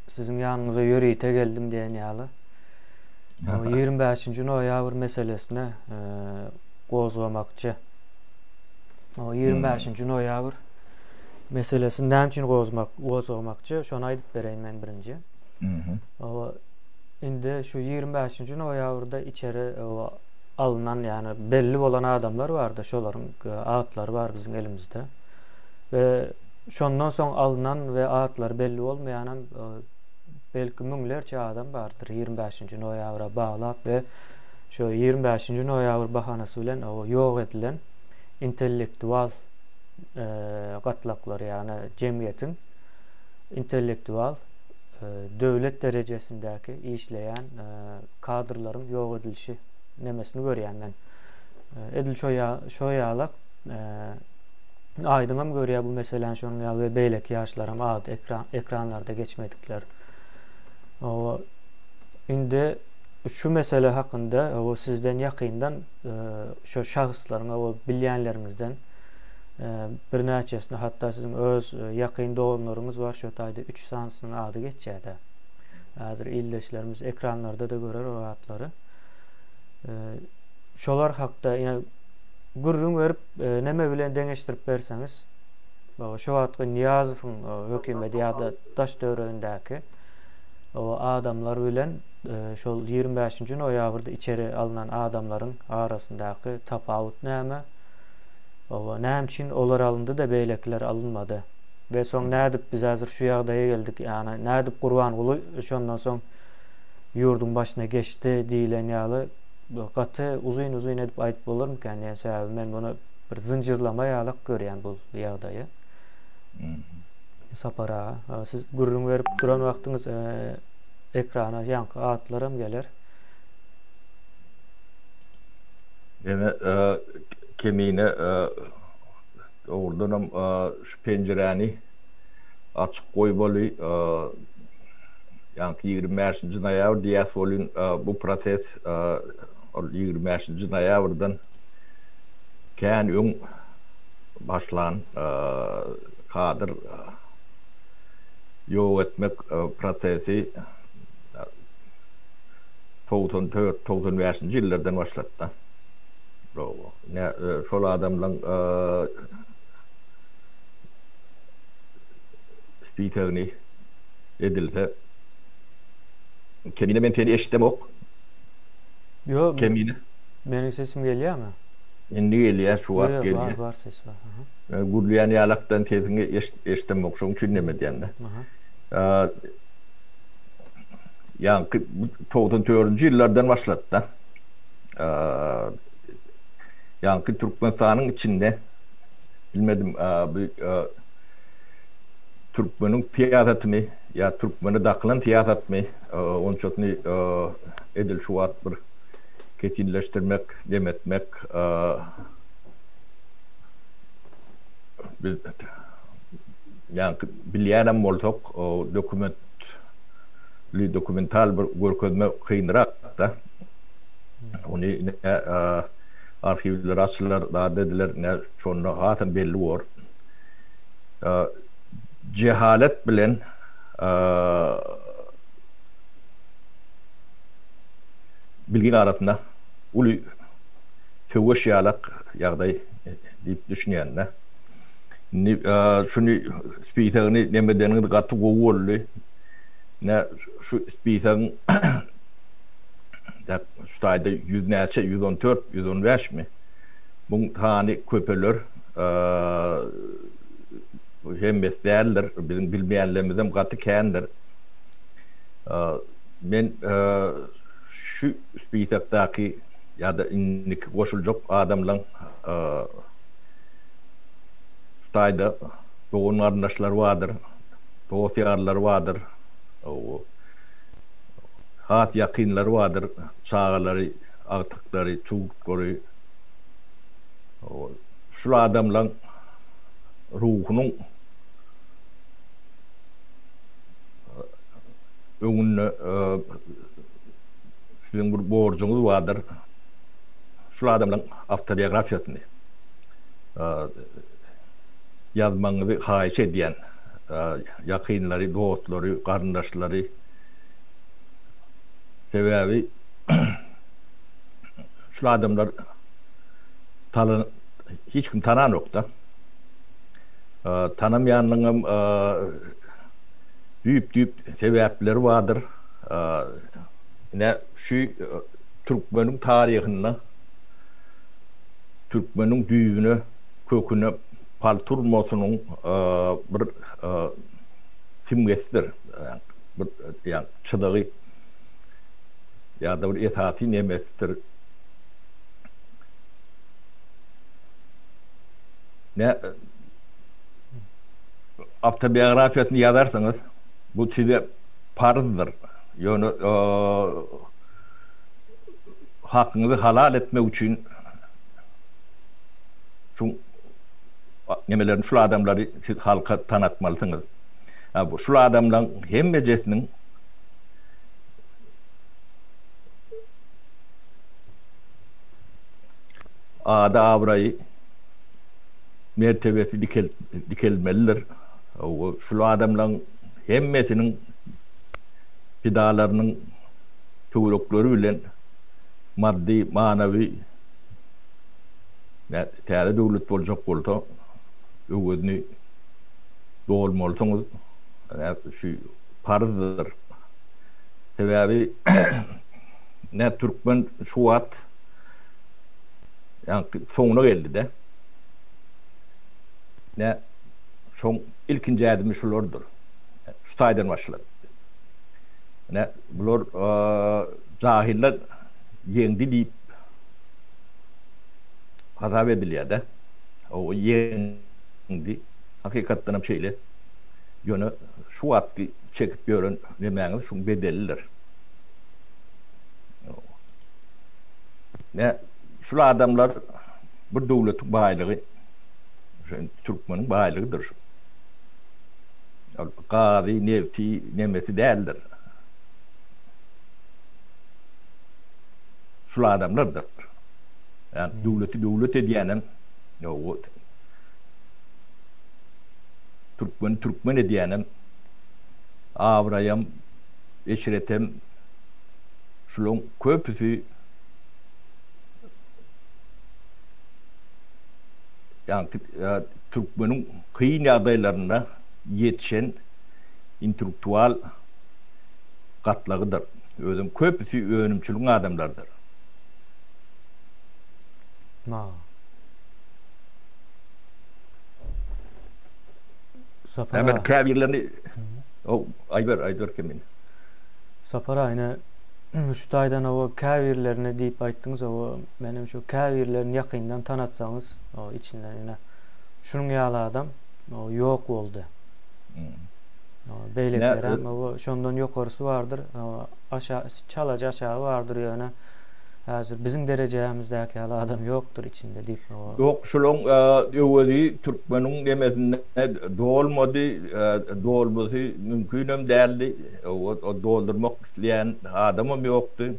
Siziň ýanyňyza ýörite geldim diýen ýaly. O 25-nji noýabr meselesini gozgamakçy. O 25-nji noýabr meselesini näme üçin gozmak, gozgamakçy, şony aýdyp bereýin men birinji. O indi şu 25-nji noýabrda içeri alnan, ýagny belli bolan adamlar bardy, şolaryň atlary bar biziň elimizde. We Şondan soň alnan we atlary belli bolmaýanam belki müňlerçe adam bardyr ýigrimi bäşinji noýabra baglap we şu ýigrimi bäşinji noýabr bahanasy bilen ýok edilen intellektual gatlaklary ýagny jemgyýetiň intellektual döwlet derejesindäki işleýän kadrlaryň ýok edilişi nemesini görýän men edil şo ýalak Aýdyňam görýär bu meseläni şonuň ýaly we beýleki ýaşlaram ady ekran ekranlarda geçmedikler. Owa indi şu mesele hakynda owa sizden ýakyndan e, şu şahslaryň owa bilýänleriňizden e, birnäçesini hatda siziň öz e, ýakyn doganlaryňyz bar şu taýda 3 sanysynyň ady geçýär-de. Hazır ildeşlerimiz ekranlarda da görer o adlary. Şolar hakda ýa gürrüň berip Neme bilen deňeşdirip berseňiz, şu wagtky Niýazowyň hökümeti ýa-da daş-töweregindäki adamlar bilen şol ýigrimi bäşinji noýabrda içeri alnan adamlaryň arasyndaky tapawut näme? Oba, näme üçin olar alyndy-da, beýlekiler alynmady? We soň nädip biz häzir şu ýagdaýa geldik? Ýagny, nädip Gurbanguly şondan soň ýurduň başyna geçdi diýlen ýaly bu gaty uzyn uzyn edip aýdyp bolarmykan diýen sebäbi men muny bir zynjyrlama ýalak görýän bu ýagdaýy. Sapar aga, siz gürrüň berip duran wagtyňyz e, ekrana ýaňky atlar hem geler. Ene e, kemine e, dogrudan hem e, penjiräni açyk goýmaly. Ýaňky ýigrimi bäşinji noýabr diýýäs welin, bu proses ol ýigrimi bäşinji noýabrdan kän öň başlan kadr ýok etmek prosesi togsan dört, togsan bäşinji ýyllardan başlady-da. Şol adamlaryň Spikerni edilse Kemine men seni eşidemok. Ýo Kemine. Meniň sesim gelýämi? Indi gelýär şu wagt gelýär. Ýo ýo bar bar ses bar aha. Men gürleýän ýalakdan sesiňi eşidemok şoň üçin neme edýände. Aha. Ýaňky togsan dördünji ýyllardan başlapda ýaňky Türkmenistanyň içinde Bilmedim bu türkmeniň syýasatymy ýa türkmene dakylan syýasatmy onçasyny edil şu wagt bir kesinleşdirmek, dem etmek ýaňky bilýänem bolsak dokument dokumental bir görkezme kynrak-da. Ony ine arhiwler açylar zat ediler ne şonda hasam belli bor. Jehalet bilen bilgin arasynda uly söweş ýalak ýagdaý diýip düşünýända. Indi şuny spisagyny neme edeniňiz gaty gowy boldy. Ne şu spisagyň Şu taýda ýüz näçe, ýüz on dört, ýüz on bäşmi? Muň sany köpeler. Hemmesi däldir. Biziň bilmeýänlerimizem gaty kändir. Men şu spisakdaky ýa-da indiki goşuljak adamlaň şu taýda dogan-garyndaşlary bardyr, dost-ýarlary bardyr. Has ýakynlary bardyr, çagalary, agtyklary, çuwdklary. Şul adamlaň ruhunyň öňünde siziň bir borjuňyz bardyr. Şul adamlaň awtobiografiýasyny ýazmagyňyzy haýyş edýän, ýakynlary, dostlary, garyndaşlary. Sebäbi şul adamlar talan hiç kim tananokda. Tanamaýanlygyň hem düýp-düýp sebäpleri bardyr. Ine şu türkmeniň taryhynda türkmeniň düýbüne, köküne palta urmasynyň bir simgesidir. bir ýa çyzygy ýa-da bir esasy nemesidir. Ne awtobiografiýasyny ýazarsyňyz, bu size parzdyr. Ýöne hakyňyzy halal etmek üçin şu nemelerini, şu adamlary siz halka tanatmalysyňyz. A bu şul adamlaň hemmejesiniň ady abraýy mertebesi dikelmelidir. Ow şul adamlaň hemmesiniň pidalarynyň töwrekleri bilen maddy manawy täze döwlet boljak bolsa öwezini dolmalysyňyz. Şu parzdyr. Sebäbi ne türkmen şu wagt ýaňky soňuna geldi-de. Ne şoň ilkinji ädimi şulardyr. Şu taýdan başlady. Ne bular jahyllar ýeňdi diýip hasap edilýär-de. Oba ýeňdi. Hakykatdan hem şeýle. Ýöne şu wagtky çekip ýören nemäňiz şuň bedelidir. Nä, şul adamlar bir döwletiň baýlygy, şo türkmeniň baýlygydyr şu. Ol gazy, nebti, nemesi däldir. Şul adamlardyr. Ýa döwleti döwlet edýänem, ýa Türkmeni türkmen edýänem, abraýam, eşretem şulaň köpüsi ýaňky türkmeniň kyn ýagdaýlarynda ýetişen intelektual gatlagydyr. Özem köpüsi önümçiligiň adamlarydyr. Na. Sapar Hemen käbirlerini o aýber aýber kimin. Sapar aýna şu taýdan o käbirlerini diýip aýtdyňyz o men hem şu käbirlerini ýakyndan tanatsaňyz o içinden ine şunuň ýaly adam o ýok boldy. Hmm. Beýlekiler hem şondan ýokarysy bardyr. Aşa çalaja aşagy bardyr ýöne. Häzir biziň derejämizdäki ýaly adam ýokdur içinde diýip o. Ýok şulaň öwezi türkmeniň nemesinde dolmady dolmasy mümkinem däldi o doldurmak isleýän adamam ýokdy.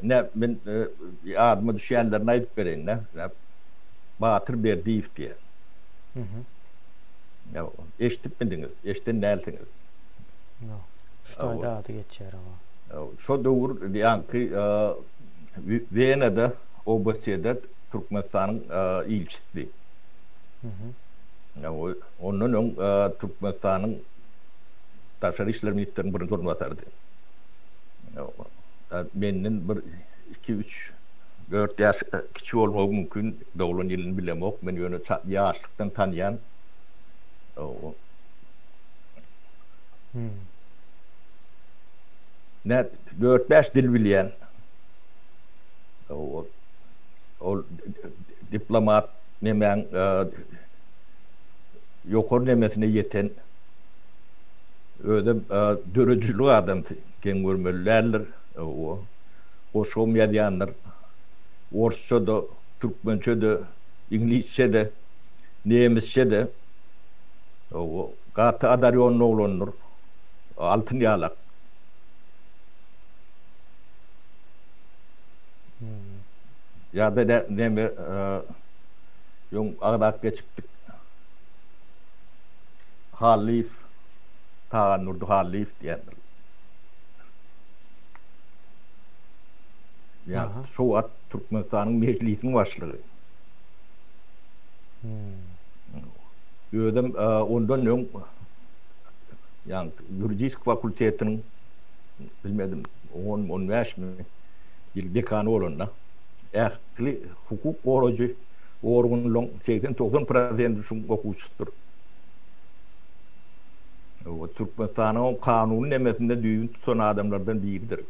Ine men ýadyma düşýänlerini aýdyp bereýinda Batyr Berdiýew diýen. Eşdipmidiňiz? Eşden dälsiňiz. Ýok. Şu taýda ady geçýär oba. Şo döwür ýaňky Wenada OBSE-de Türkmenistanyň ilçisidi. Ondan öň Türkmenistanyň Daşary işler ministriniň birinji orunbasarydy. Menden bir iki üç dört ýaş kiçi bolmagy mümkin, doglan ýylyny bilemok. Men ýöne ýaşlykdan tanýan. Men dört-bäş dil bilýän. Ol diplomat nemäň ýokary nemesine ýeten. Özem döredijilik adamsy, geň görmeli däldir. Goşgam ýazýandyr. Orsça-da, türkmençe-de, iňlisçe-de, nemisçe-de. Gaty adarýonly oglandyr. Altyn ýalak. Ýa-da ne, neme, ýoň agzap geçipdik. Hallyýew, Tagandurdy Hallyýew diýendir. Ýa, şo wagt Türkmenistanyň Mejlisiň başlygy. Özem ondan öň ýaňy ýuridisk fakultetiniň bilmedim onmy, on bäşmi ýyl dekany bolanda ähli hukuk gorajy organlaryň segsen-togsan prosenti şuň okuwçysydyr. Oba Türkmenistanyň kanuny nemesinde düýbüni tutan adamlardan biridir.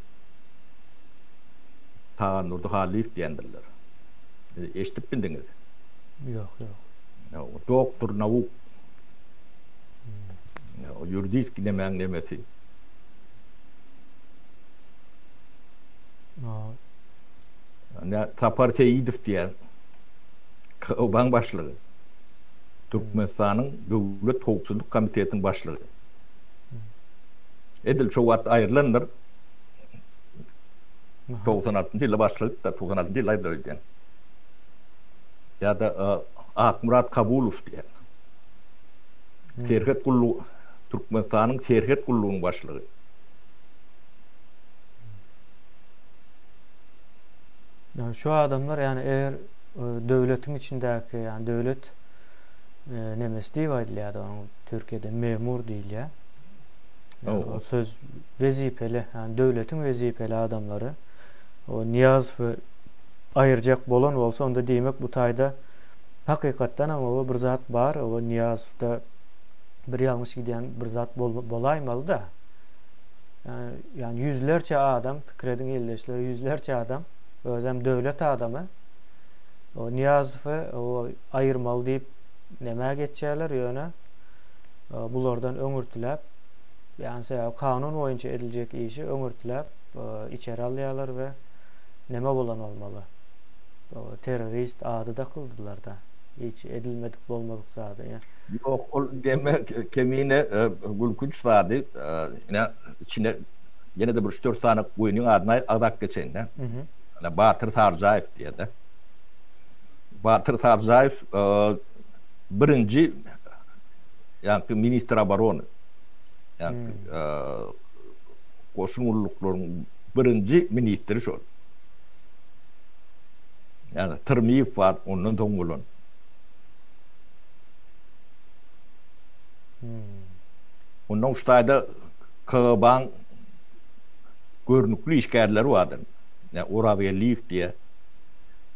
Tagandurdy Hallyýew diýendirler. Eşidip bildiňiz? Ýok, ýok. Doktor nauk. Ýuridiski nemäň nemesi? Nä Sapar Seýidow diýýär. KGB-nyň başlygy. Türkmenistanyň Döwlet howpsuzlyk komitetiniň başlygy. Edil şo wagt aýrylandyr. 96-njy ýylda başlyk, 96-njy ýylda aýrylýar öýdýän. ýa-da Akmyrat Kabulow diýen serhet gullugy, Türkmenistanyň Serhet gullugynyň başlygy. Ýagny şu adamlar, ýagny eger döwletiň içindäki, ýagny döwlet nemesi diýip aýdylýar onuň türkiýede memur diýilýär. Ýagny ol söz wezipeli, ýagny döwletiň wezipeli adamlary o Nyýazow we aýyrjak bolan bolsa, onda diýmek bu taýda hakykatdanam oba bir zat bar, oba Nyýazowda bir ýalňyş gidýän bir zat bolaýmaly-da. Ýa-ýani ýüzlerçe adam, pikir ediň ildeşler, ýüzlerçe adam, özem döwlet adamy oba Nyýazowy oba aýyrmaly diýip nämä geçýärler, ýöne bulardan öňürtiläp, ýagny sebäbi kanun boýunça ediljek işi öňürtiläp içeri alýarlar we Neme bolan bolmaly? Ol terrorist ady dakyldylarda. Hiç edilmedik bolmadyk zada ya. Ýok ol deme kemine gülkünç zady ine içine ýenede bir üç dört sany goýnyň adyny agzap geçeýinda. Ine Batyr Sarjaýew diýede. Batyr Sarjaýew birinji ýaňky ministr oborony. Ýaňky goşun gulluklaryň birinji ministri şol. Ýagny Tyrmyýew bar, ondan soň bolan. Ondan şu taýda KGB-nyň görnükli işgärleri bardy. Ýa Orazgeldiýew diýe.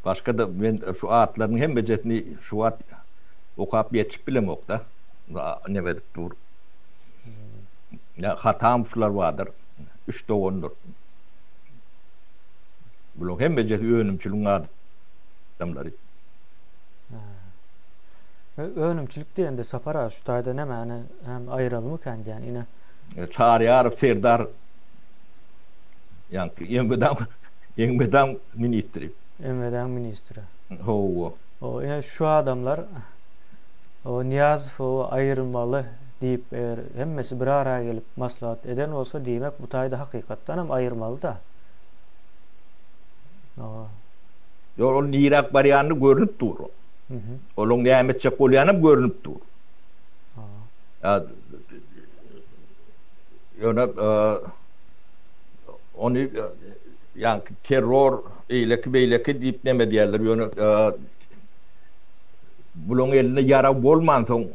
Başga-da men şu atlarynyň hemmejesini şu wagt okap ýetişip bilemok-da. Neme edip dur. Ýa Hatamowlar bardyr. üç dogandyr. Bularyň hemmejesi önümçiligiň adamlary. Önümçilik diýende Sapar aga şu taýda nämäni hem aýyralymy kän diýýän ine. Çaryýarow Serdar ýaňky Elmydam Elmydam ministri. Elmydam ministri. Hawa. Ine şu adamlar Nyýazow aýyrmaly. diýip, eger hemmesi bir ara gelip maslahat eden bolsa, diýmek, bu taýda hakykatdan hem aýyrmaly-da. Hawa. Ýok, ol niräk barýany görnüp dur. Olaň näme etjek bolýany hem görnüp dur. Hawa. Ýöne ony ýaňky terror, eýleki-beýleki diýip neme edýärler, ýöne bulaň elinde ýarag bolmansoň,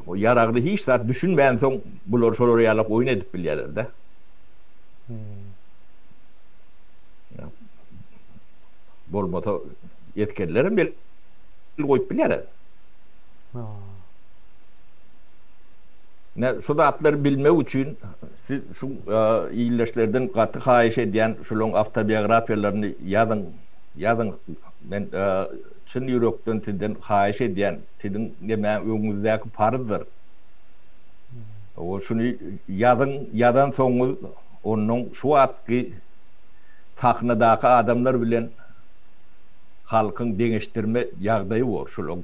Bu ýaragly hiç zat düşünmänsoň bular şolar ýalak oýun edip bilýärlerdä. Bolmasa esgerlerem el goýup bilýärler. Ne şu zatlary bilmek üçin siz şu ildeşlerden gaty haýyş edýän şularyň awtobiografiýalaryny ýazyň. Ýazyň. Men çyn ýürekden sizden haýyş edýän. siziň näme öňüňizdäki parzdyr. Ol şuny ýazyň, ýazansoňyňyz onnoň şu wagtky sahnadaky adamlar bilen halkyň deňeşdirme ýagdaýy bor, şolaň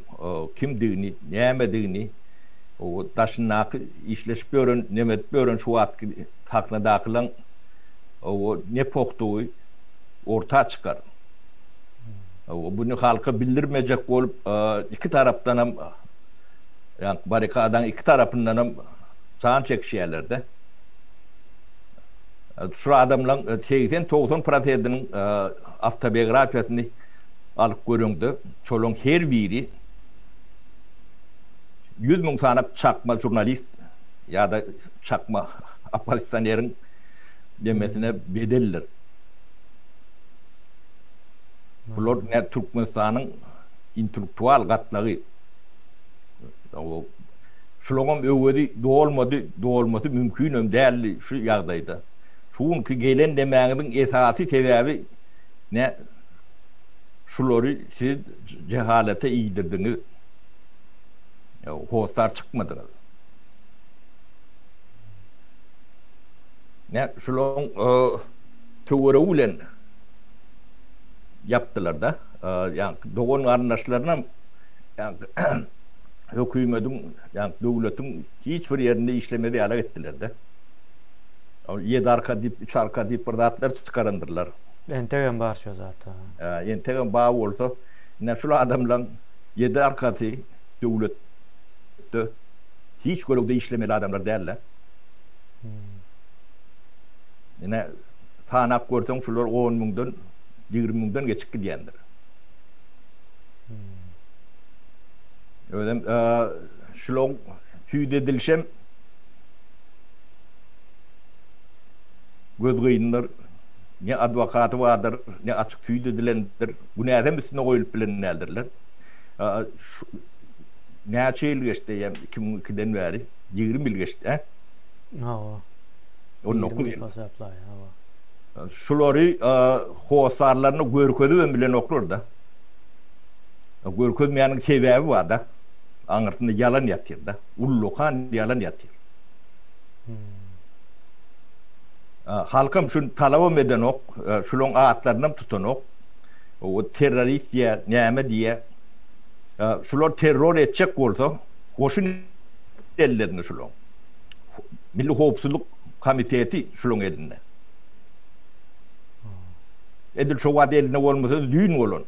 kimdigini, nämedigini, daşyndaky işleşip ýören, neme edip ýören şu wagtky sahnadakylaň ne pohdugy orta çykar. Muny halka bildirmejek bolup, iki tarapdanam, ýagny barrikadaň iki tarapyndanam jan çekişýärler-de. Şu adamlaryň segsen-togsan prosediniň awtobiografiýasyny alyp göreňde, şolaryň her biri ýüz müň sany çakma žurnalist ýa-da çakma oppozisioneriň nemesine bedeldir. Bular nä Türkmenistanyň intellektual gatlagy. Şulaňam öwezi dolmady, dolmasy mümkinem däldi şu ýagdaýda. Şu günki gelen demäňiziň esasy sebäbi nä şulary siz jehalete iýdirdiňiz. Hossar çykmadyňyz. Nä şulaň Töweregi bilen ýapdylar-da. Ýagny dogan-garyndaşlarynam hökümediň, ýagny döwletiň hiç bir ýerinde işlemez ýalak etdiler-de. Ýedi arka diýip, üç arka diýip bir zatlar çykarandyrlar. Entegem bar şo zat. Entegem bar bolsa, ine şul adamlaň ýedi arkasy döwletde hiç görelde işlemeli adamlar däl-de. Ine, sanap görseň, şular on müňden, ýigrimi müňden geçip gidýändir. Özem şular süýt edilişem gözgyýyndyr, ne adwokaty bardyr, ne açyk süýt edilendir. Günäsem üstüne goýlup bilen däldirler. Näçe ýyl geçdi eýýäm, iki müň ikiden bäri? Ýigrimi ýyl geçdi, hä? Hawa. On dokuz ýyl. Şulary hossarlaryna görkezibem bilenoklar-da. Görkezmeýäniň sebäbi bar-da. Aňyrsynda ýalan ýatyr-da. Ullakan ýalan ýatyr. Halkam şuny talabam edenok. Şularyň atlarynam tutanok. Terrorist diýýä, näme diýýä. Şular terror etjek bolsa, goşun ellerinde şularyň. Milli howpsuzlyk komiteti şulaň elinde. Edil şo wagt elinde bolmasa düýn bolan.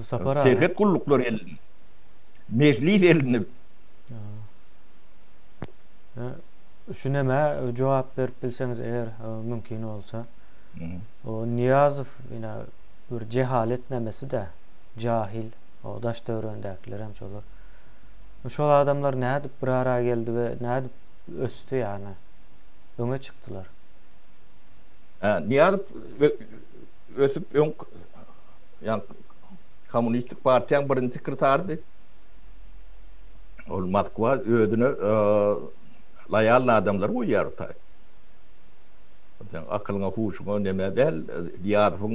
Sapar aga. Serhet gulluklary elinde. Mejlis elinde. Şu näme jogap berip bilseňiz eger mümkin bolsa. O Niyazow ina bir cehalet nemesi de cahil. O daş döwrendäkiler hem şolar. Şol adamlar nädip bir ara geldi we nädip ösdi ýany? Öňe çykdylar. Hä, Niýazow ösüp öň ýa kommunistik partiýaň birinji sekretarydy. Ol Moskwa özüne laýalny adamlar goýýar taý. Sen akylyňa, huşuňa neme däl, Niýazowyň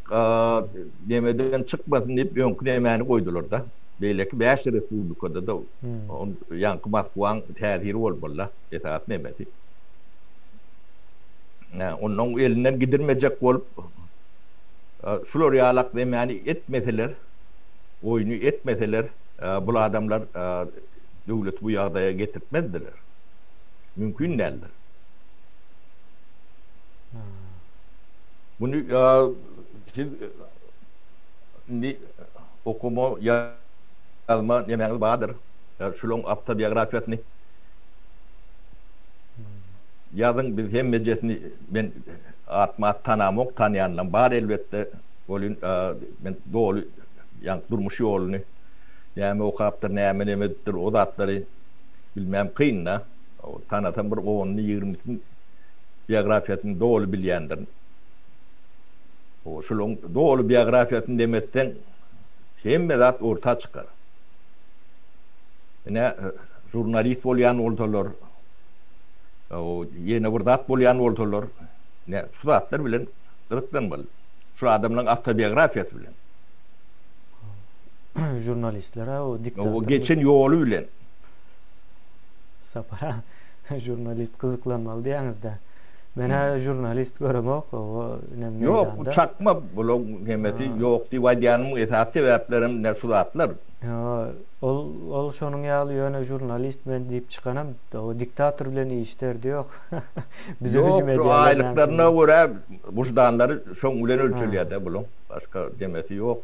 Gaz nemeden çykmasyn diýip öňki nemäni goýdular-da. Beýleki bäş respublikada-da ýaňky Moskwaň täsiri bolup bolýar esasy nemesi. Hä, ondan elinden gidirmejek bolup şular ýalak nemäni etmeseler, oýny etmeseler, bul adamlar döwleti bu ýagdaýa getirtmezdiler. Mümkin däldir. Muny siz indi okama, ýazma nemäňiz bardyr? Şulaň awtobiografiýasyny ýazyň, biz hemmejesini men atma-at tanamok, tanýanlam bar elbetde, welin men doly ýaňky durmuş ýoluny, näme okapdyr, näme neme edipdir, o zatlary bilmem kyn-da. Tanasam bir on-ýigrimisini. biografiýasyny doly bilýändirin. Şunuň doly biografiýasyny demesseň, hemme zat orta çykar. Ine, žurnalist bolýan bolsalar, ýene bir zat bolýan bolsalar, ine, şu zatlar bilen gyzyklanmaly. Şu adamlaryň awtobiografiýasy bilen. Žurnalistler-ä o diktator. Geçen ýoly bilen. Sapar aga. Žurnalist gyzyklanmaly diýýäňiz-dä. Men-ä žurnalist göremok, oba inem meýdanda. Ýok, bu çakma, bulaň hemmesi ýok diýip aýdýanymyň esasy sebäplerem ine şu zatlar. Ýa, ol, ol şonuň ýaly, ýöne žurnalist men diýip çykanam, oba diktator bilen iş derdi ýok. Bize hüjüm edýärler. Ýok, şu aýlyklaryna görä wyždanlary şoň bilen ölçelýär-dä bulaň, başga demesi ýok.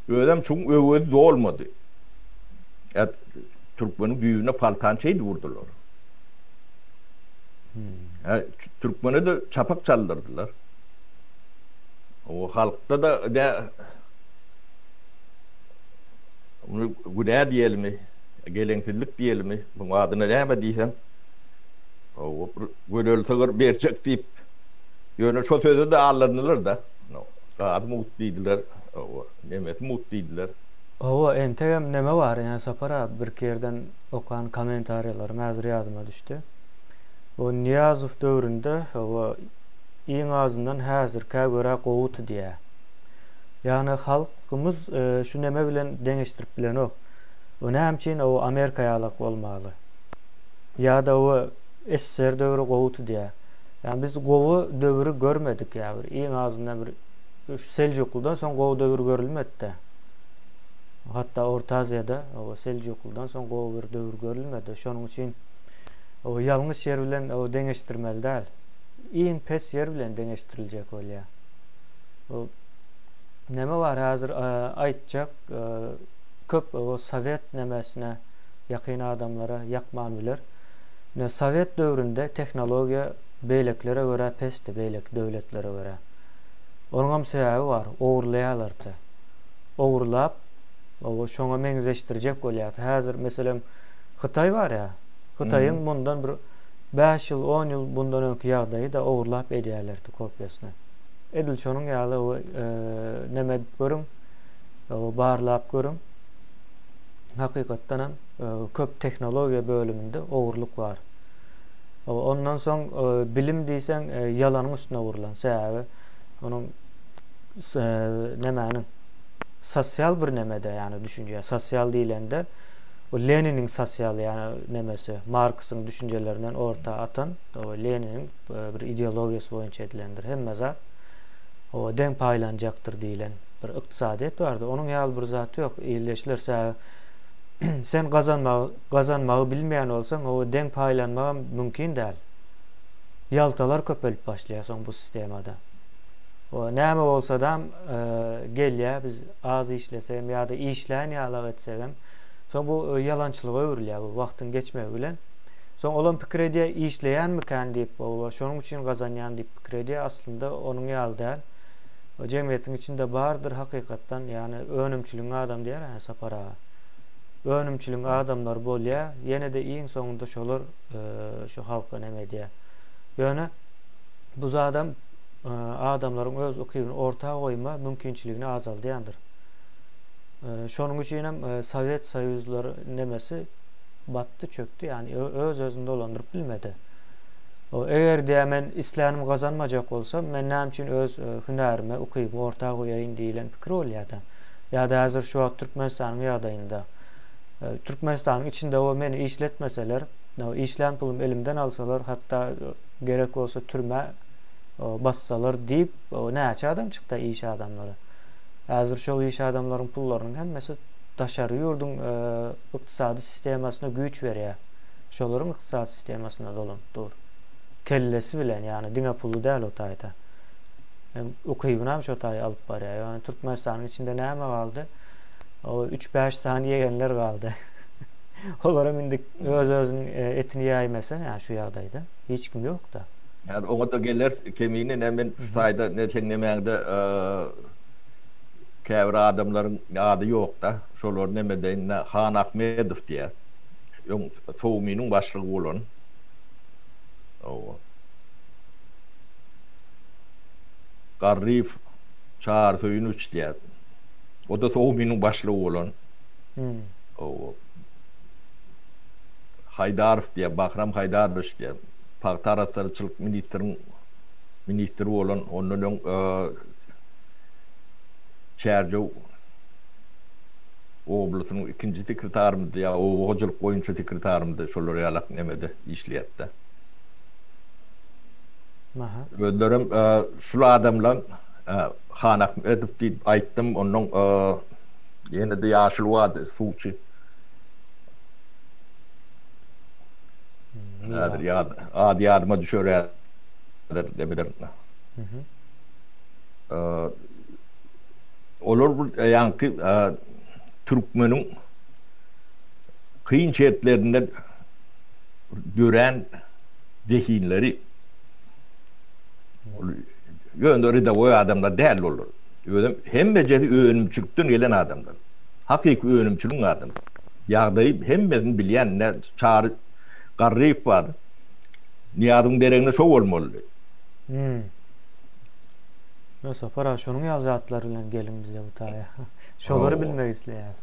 Özem şuň öwezi dolmady. Ýa türkmeniň düýbüne paltany şeýdip urdular. Hä, türkmene-de çapak çaldyrdylar. O halkda-da de Muny günä diýelimi, geleňsizlik diýelimi, bu adyna näme diýseň, o bir gödel sygyr berjek diýip, ýöne şo söze-de aldandylar-da. Gazy mugt diýdiler, o nemesi mugt diýdiler. Hawa entegem neme bar ine Sapar abi birki ýerden okan komentariýalaryň häzir ýadyma düşdi. O Nyýazow döwründe hawa iň azyndan häzirkä görä gowudy diýä. Ýagny halkymyz şu neme bilen deňeşdirip bilenok. O näme üçin o Amerika ýalak bolmaly. Ýada o SSR döwri gowudy diýä. Ýagny biz gowy döwri görmedik ýa bir iň azyndan bir şu Seljuklydan soň gowy döwür görülmedidä. Hatda Orta Aziýada Seljuklydan soň gowy bir döwür görülmedi. Şonuň üçin ýalňyş ýer bilen deňeşdirmeli däl. Iň pes ýer bilen deňeşdiriljek bolýar. Näme bar häzir aýtjak köp sowet nämesine ýakyn adamlara ýakman biler. Sowet döwründe tehnologiýa beýlekilere görä pesdi, beýleki döwletlere görä. Onuňam sebäbi bar, ogurlaýarlarty. Ogurlap, o şoňa meňzeşdirjek bolýarty. Häzir, meselem, Hytaý bar-ä, Hytaýyň mundan bir bäş ýyl, on ýyl mundan öňki ýagdaýy-da ogurlap edýärlerti kopiýasyny. Edil şonuň ýaly näme edip görüň, barlap görüň, hakykatdanam köp tehnologiýa bölüminde ogurlyk bar. Ondan soň bilim diýseň ýalanyň üstüne gurlan. Sebäbi onuň nemäniň sosial bir nemede, ýagny düşünje, sosial diýlende o Leniniň sosial ýagny nemesi, Marksyň düşünjelerinden orta atan, o Leniniň bir ideologiýasy boýunça edilendir. Hemme zat o deň paýlanjakdyr diýlen bir ykdysadyýet bardy. Onuň ýaly bir zat ýok. Ildeşler sebäbi sen gazanmagy Gazanmagy bilmeýän bolsaň, oba deň paýlanmagam mümkin däl. Ýaltalar köpelip başlaýar soň bu sistemada. O näme bolsadam gelýär, biz az işlesegem ýa-da işlän ýalak etsegem, soň bu ýalançylyga öwrülýär bu wagtyň geçmegi bilen. Soň olam pikir edýär, işleýänmikän diýip, oba şonuň üçin gazanýan diýip pikir edýär, aslynda onuň ýaly däl. Jemgyýetiň içinde bardyr hakykatdan, ýagny önümçiligiň adamy diýýärä Sapar aga. Önümçiligiň adamlary bolýa ýenede iň soňunda şolar şu halka neme edýä. Ýöne bu zadam adamlaryň öz ukybyny orta goýma mümkinçiligini azaldýandyr. Şonuň üçin hem Sowet Soýuzlar nemesi batdy çökdi ýani öz özüni dolandyryp bilmedi. Eger diýä men islänimi gazanmajak bolsam men näme üçin öz hünärimi ukybymy orta goýaýyn diýilen pikir bolýada. Ýa-da häzir şu wagt Türkmenistanyň ýagdaýynda, Türkmenistanyň içinde o meni işletmeseler, işlän pulumy elimden alsalar, hatda gerek bolsa türmä bassalar diýip, näçe adam çykda iş adamlary. Häzir şol iş adamlaryň pullarynyň hemmesi daşary ýurduň ykdysady sistemasyna güýç berýär. Şolaryň ykdysady sistemasyna dolanyp dur. Kellesi bilen, ýagny diňe puly däl o taýda. hem ukybyny hem şo taýy alyp barýar. Ýöne Türkmenistanyň içinde näme galdy? O 3-5 sany ýegenler galdy. Olar hem indi öz-özüň e, etini ýaýmasa, ýa şu ýagdaýda hiç kim ýok-da. Häzir oňa-da geler, kemine ne men şu taýda ne seň nemäňde e, käbir adamlaryň ady ýok-da. Şolar neme deýin, Han Ahmedow diýýär. Öň Sowmynyň başlygy bolan. Hawa. Garryýew Çary Söýünowiç diýýär. O-da OGMI-niň başlygy bolan. Haýdarow diýýär, Bahram Haýdarowiç diýýär. Pagta arassaçylyk ministriniň ministri bolan, ondan öň Çärjew oblasynyň ikinji sekretarymydy ýa oba hojalyk boýunça sekretarymydy, şolar ýalak nemede işleýärdi. Özlerim şul adamlaň Han Ahmedow diýip aýtdym, onnoň ýene-de ýaşuly bardy, suwçy. Häzir ýat, ady ýadyma düşer häzir demirem. Olar bir ýaňky türkmeniň kyn şertlerinde dörän zehinleri ol ýöne redawoý adamlar däldi olar. Özem hemmejesi önümçilikden gelen adamlar. Hakyky önümçiligiň adamlary. Ýagdaýy hemmesini bilýän ine Çary Garryýew bardy. Nyýazyň deregine şo bolmalydy. Hum. Ýa Sapar aga şonuň ýaly zatlar bilen geliň bize bu taýa. Şolary bilmek isleýäs.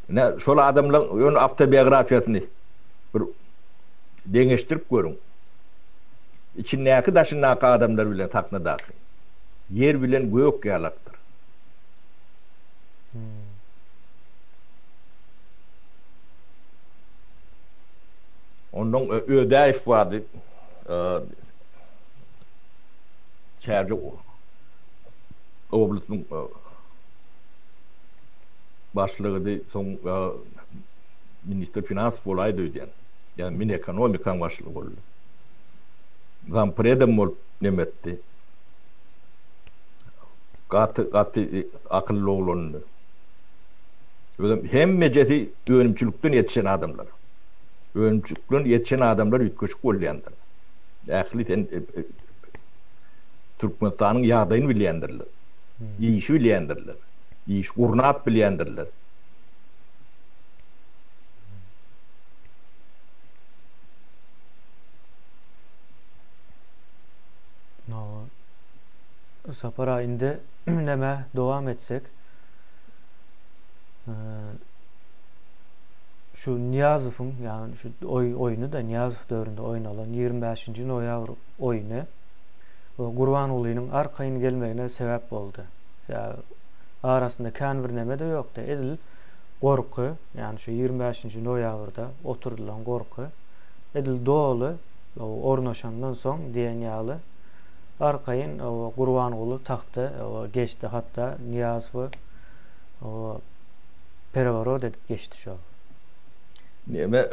Ine şol adamlaryň ýöne awtobiografiýasyny bir deňeşdirip görüň. Içindäki daşyndaky adamlar bilen sahnadaky. Ýer bilen gök ýalakdyr. Ondan Ödäýew bardy. Çärje oblastynyň başlygydy. Soň Ministr finans bolaýdy öýdýän. Ýa Minekonomikaň başlygy boldy. Zampredem bolup neme etdi. Gaty, gaty akylly oglandy. Özem hemmejesi önümçilikden ýetişen adamlar. Önümçilikden ýetişen adamlar üýtgeşik bolýandyr. Ähli sen Türkmenistanyň ýagdaýyny bilýändirler. Işi bilýändirler. Iş gurnap bilýändirler. Sapar aýynda näme dowam etsek. Ee, şu Niýazowyň, ýagny şu oý oýny da Niýazow döwründe oýnalan 25-nji noýabr oýny we Gurbangulynyň arkaýyn gelmegine sebäp boldy. Sebäbi arasynda kän bir näme de ýokdy. Edil gorky, ýagny şu ýigrimi bäşinji noýabrda oturdylan gorky edil doly ornaşandan soň diýen ýaly arkaýyn Gurbanguly tagta geçdi, hatda Nyýazowy pereworot edip geçdi şol. Näme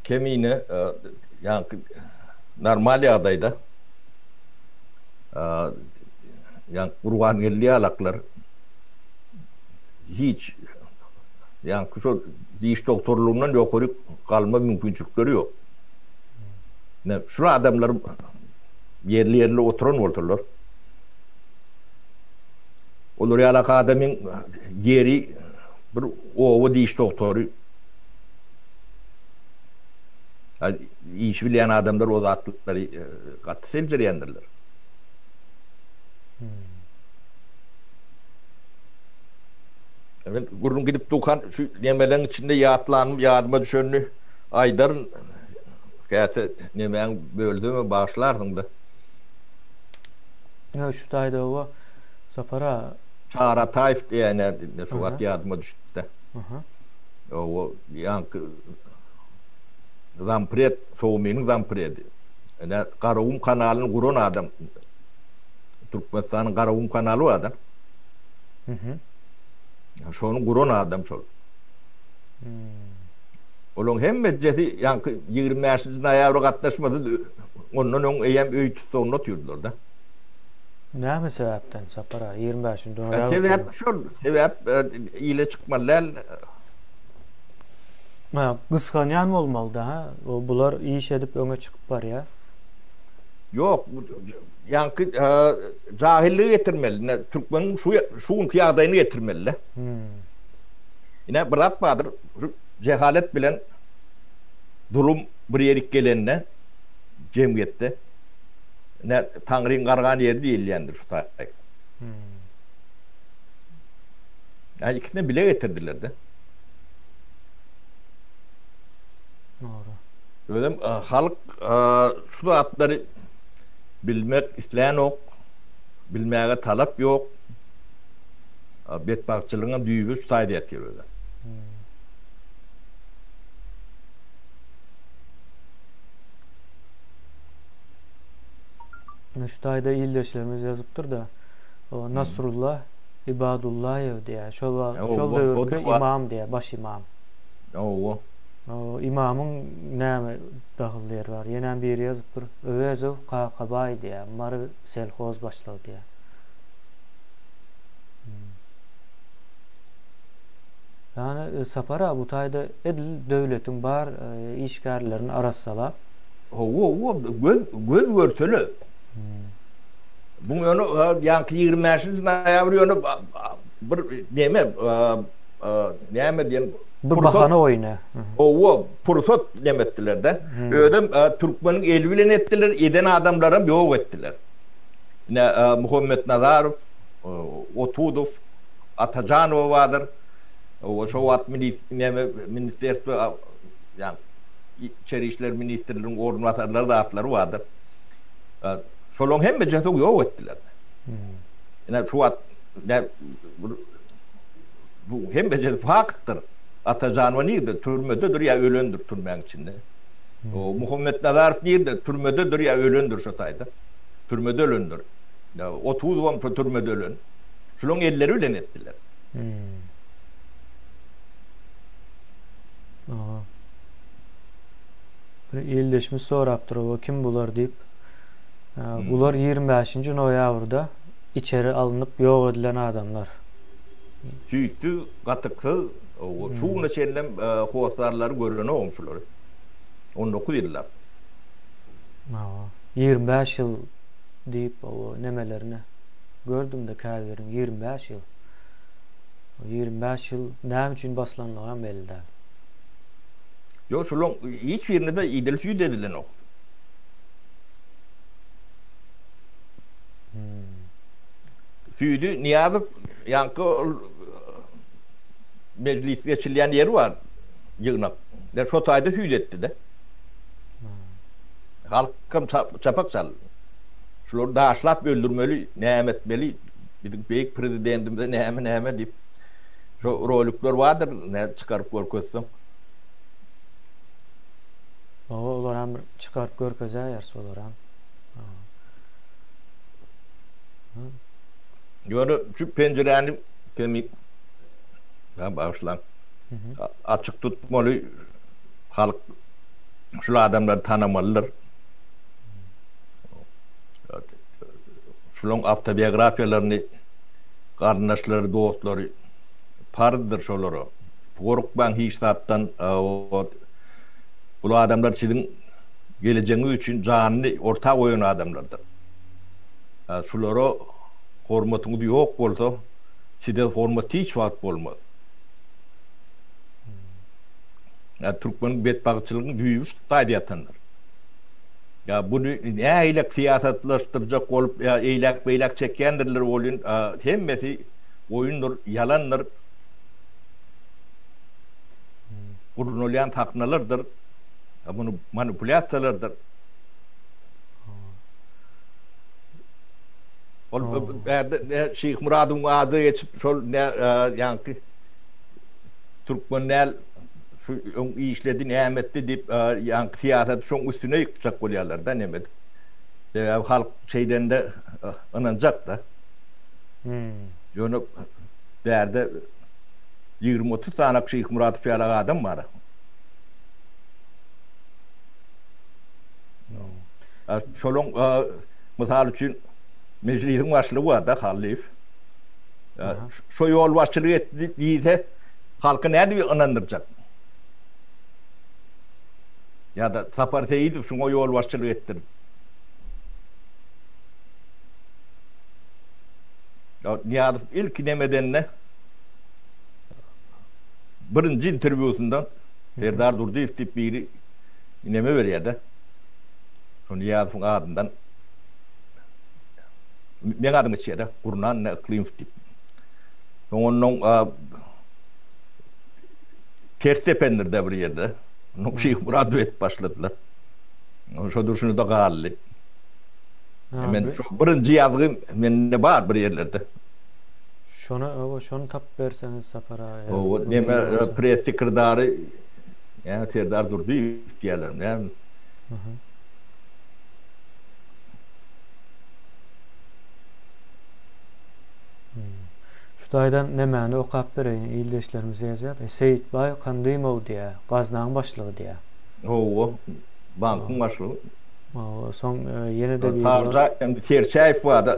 Kemine ýaňky normal ýagdaýda ýaňky Gurbangeldi ýalaklar, hiç ýaňky şol diş dogtorlygyndan ýokaryk galma mümkinçilikleri ýok. Men şul adamlar ýerli-ýerli oturan bolsalar, olar ýalak adamyň ýeri bir oba diş dogtory. Iş bilýän adamlar o zatlary gaty seljerýändirler. Men gürrüň gidip durkan şu nemeleň içinde ýatlanym ýadyma düşenini aýdaryn. Käte nemäň bölsem bagyşlarsyňda. Ýa şu taýda oba Sapar aga. Çary Ataýew diýýänä indi şu wagt ýadyma düşüpdi. Aha. Oba ýaňky zampred, Sowminiň zampredi. Ene Garagum kanalyny guran adam. Türkmenistanyň Garagum kanaly bar da. Mhm. Şony guran adam şol. Hmm. Olaň hemmejesi ýaňky 25-nji noýabra gatnaşmady. Ondan öň eýem öý tussagynda otyrdylar da. Näme sebäpden Sapar aga 25-nji noýabr? Sebäp şol, sebäp e, ile çykmaly däl. Ha, gysganýan bolmaly da, ha. O bular iş edip öňe çykyp barýar. Ýok, Ýaňky jahilligi getirmeli. Ine türkmeniň şu şu günki ýagdaýyny getirmeli-de. Ine bir zat bardyr, şu jehalet bilen zulum bir ýerik gelende jemgyýetde ine taňryň gargan ýeri diýilýändir şu taýy. Ýa ikisini bile getirdiler-de. Dogry. Özüm halk şu zatlary Bilmek islänok, bilmäge talap ýok. Betbagtçylygyň düýbi şu taýda ýatyr özem. Şu taýda ildeşlerimiz ýazypdyr-da, Nasrulla Ibadullaýew diýýär. Şol wagt, şol döwürki imam diýýär, baş imam. Hawa. Imamyň näme? Dagyl ýer bar. Ýenäm biri ýazyp dur. Öwezow Kakabaý diýýä. Mary selhoz başlygy diýýä. Ýani e, Sapar aga bu taýda edil döwletiň bar e, işgärlerini arassalap Hawa, hawa, göz, göz görsele. Bu ýöne, ýaňky 25-nji noýabr ýöne bir neme, Näme diýen pursat. Bahana oýny. Howwa, pursat näme etdiler-de. Özem türkmeniň eli bilen etdiler, eden adamlaram ýok etdiler. Ine, Muhammetnazarow, Otudow, Atajanowa bardyr. Howwa, şo wagt näme ministrerstwo, ýagny içeri işler ministriniň orunbasarlary zatlary bardyr. Şolaryň hemmesini ýok etdiler. Ine, şu wagt Bu hemmejesi faktdyr. Atajan we nirde? Türmededir ýa ölendir türmäň içinde. O Muhammetnazarow nirde? Türmededir ýa ölendir şo taýda. Türmede ölendir. Otuzowam şo türmede ölen. Şulaň elleri bilen etdiler. Aha. Bir ildeşimiz sorapdyr, oba kim bular diýip. Bular ýigrimi bäşinji noýabrda içeri alnyp ýok edilen adamlar. Süýtsüz, gatyksyz, şu günde çenlem hossarlary görenogum şulary. On dokuz ýyllap. Hawa, ýigrimi bäş ýyl diýip o nemelerine gördüm-de käbiriň ýigrimi bäş ýyl. O ýigrimi bäş ýyl näme üçin baslanlygam belli däl. Ýok, şulaň hiç birinde-de idil süýt edilenok. Süýdi Nyýazow ýaňky ol mejlis geçilýän ýeri bar, ýygnak. Ine, şo taýda süýdi etdi-de. Halkam çapak çaldy. Şulary daşlap öldürmeli, näme etmeli, biziň beýik Prezidentimize näme-näme diýip, şo rolikler bardyr, nädip çykaryp görkezseň. Hawa, olaram bir çykaryp görkezäýeris olaram. Ýöne şu penjiräni pemi ýa bagyşlaň. Açyk tutmaly halk şul adamlary tanamalydyr. Şularyň awtobiografiýalaryny garyndaşlary, dostlary parzdyr şolara. Gorkmaň hiç zatdan. Bul adamlar siziň gelejegiňiz üçin janyny orta goýan adamlardyr. Şulara hormatyňyz ýok bolsa, size hormat hiç wagt bolmaz. Ýa türkmeniň betbagtçylygyň düýbi şu taýda ýatandyr. Ýa buny nähilek syýasatlaşdyrjak bolup, ýa eýläk-beýläk çekýändirler welin, hemmesi oýundyr, ýalandyr. Gurnalýan sahnalardyr. Ha bunu manipulýasiýalardyr. Ol ne Şeýh Muradyň ady geçip şol ne ýaňky türkmen näl şu öň işledi näme etdi diýip ýaňky syýasat şoň üstüne ýykjak bolýarlar da näme edip. Sebäbi halk şeýdende ynanjak da. Ýöne bärde 20-30 sany Şeýh Muradow ýaly adam bar. Şonuň mysal üçin mejlisiň başlygy bar-da Hallyýew. Şo ýolbaşçylyk etdi diýse, halky nädip ynandyrjak? Ýa-da Sapar Seýidow şuňa ýolbaşçylyk etdirdi. Nyýazow ilki demedende. Birinji interwýusynda Serdar Durdyýew diýip biri neme berýärde. Şo Nyýazowyň adyndan meň adym geçýärde, Gurnan ne Yklymow diýip. Soň onnoň ters dependirde bir ýerde. Onnoň Şyhmuradow edip başladylar. Şo durşuna-da galdy. Men şo birinji ýazgy mende bar bir ýerlerde. Şona öwü şony tapyp berseňiz Sapar aga her Öwü gün neme geliň şu. press sekirdary näme Serdar Durdyýew diýýälermi näme. Aha. Hmm. Şu taýdan nemäni okap bereýin ildeşlerimiz ýazýar da Seýitbaý Kandymow diýýär gaznaň başlygy diýýär. Howwa bankyň başlygy. Howwa soň e, ýene-de biri bar. Parja Serçäýew barda.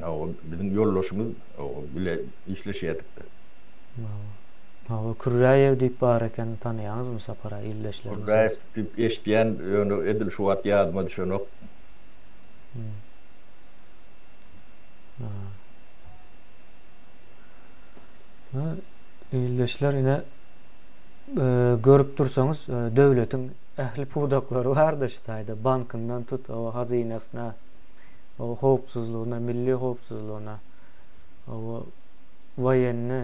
Hawa, biziň ýoldaşymyz bile işleşýärdik-de. Hawa, Kürräýew diýip bar eken, tanaýaňyzmy Sapar-a, ildeşlerimiz? Kürräýew diýip eşidýän, ýöne edil şu wagt ýadyma düşenok. Ildeşler, ine, görüp dursaňyz, döwletiň ähli pudaklary bar-da şu taýda, bankyndan tut, hawa, hazynasyna. howpsuzlygyna, milli howpsuzlygyna, woýenni